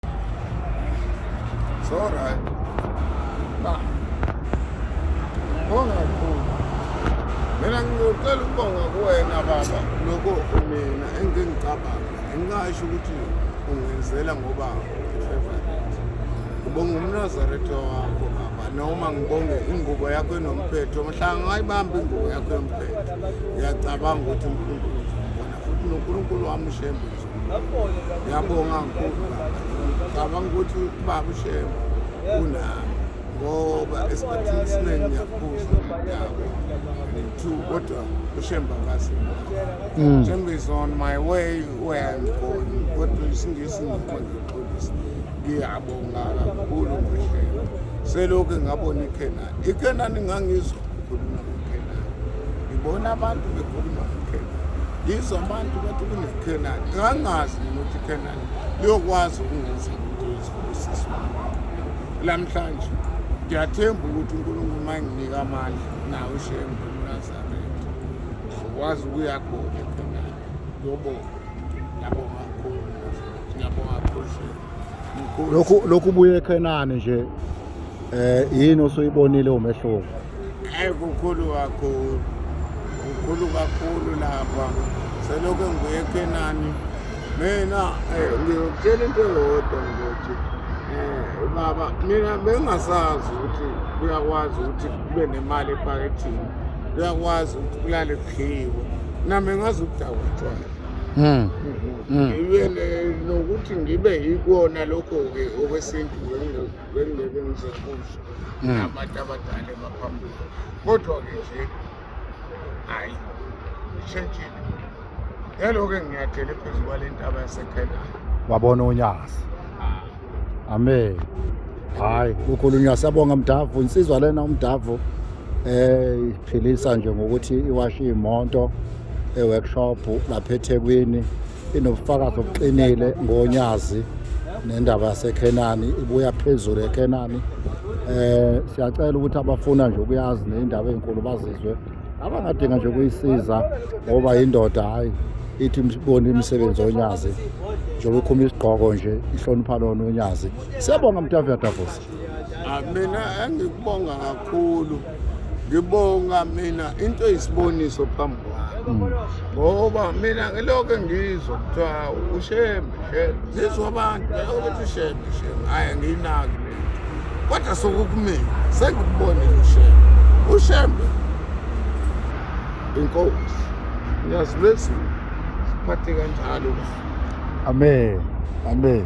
It's all right. Nah. Ngibonga kakhulu. Mina ngicela ukubonga kuwena baba lokho mina engingicabanga. Engasho ukuthi ungenzela ngoba favorite. Ngibonga umnazaretha wakho baba noma ngibonge ingubo yakho enomphetho. Mhla ngayibamba ingubo yakho enomphetho. Ngiyacabanga ukuthi uNkulunkulu ubona futhi noNkulunkulu wami ushembe. ngiyabonga kakhulu cabanga ukuthi ubaba ushema unami ngoba esikhathini esiningi ngiyaphuza yabo two kodwa ushemba ngazi shemba is on my way where i'm going kodwa isingisi ngikho ngixolisa ngiyabonga kakhulu ngoshemba selokhu ngabona ikhena ikhenani ngangizwa ngibona abantu bekhuluma ngeKhenani yizo abantu bathi kuneKhenani ngangazi nokuthi iKhenani liyokwazi ukungenza umuntu wezifundisisi lamhlanje ngiyathemba ukuthi unkulunkulu uma enginika amandla nawe shembe unazaretha ngikwazi ukuya khona eKhenani ngiyobona ngiyabonga kakhulu ngiyabonga kakhulu lokhu lokhu buye ekhenani nje eh yini osuyibonile umehluko hayi kukhulu kakhulu kukhulu kakhulu lapha selokhu ngibuye ekhenani mina eh, ngiyokutshela into eyodwa ngokuthi um baba mina bengingasazi ukuthi kuyakwazi ukuthi kube nemali ephakethini kuyakwazi ukuthi kulale kudliwe nami ngazi ukudakwa utshwala hmm. mhm. mm. ngiyele nokuthi ngibe yikona lokho-ke okwesintu bengingeke ngizekusho mm. abantu abadala emaphambili kodwa-ke nje hhayi ishentshile ngelo-ke nginyathele phezu kwale ntaba yasekhenani wabona unyakazi amen hayi kukhulunywa siyabonga mdavu insizwa lena umdavu eh iphilisa nje ngokuthi iwashe imoto e-workshop lapha eThekwini inobufakazi obuqinile ngonyazi nendaba yaseKhenani ibuya phezulu eKhenani eh siyacela ukuthi abafuna nje ukuyazi nezindaba ezinkulu bazizwe abangadinga nje ukuyisiza ngoba yindoda hhayi ithi ibone imisebenzi onyazi njengoba ikhuma isigqoko nje ihlonipha lona onyazi siyabonga mtaviyadavusa ah, mina engikubonga kakhulu ngibonga mina into eyisiboniso phambi kwami ngoba mina ngilokho engizwa kuthiwa ushembe shembe ngizwa abantu ukuthi ushembe shembe hhayi ngiyinaki kodwa sokukumina sengikubonile ushembe ushembe inkosi ngiyazi lwezulu siphathe kanjalo amen amen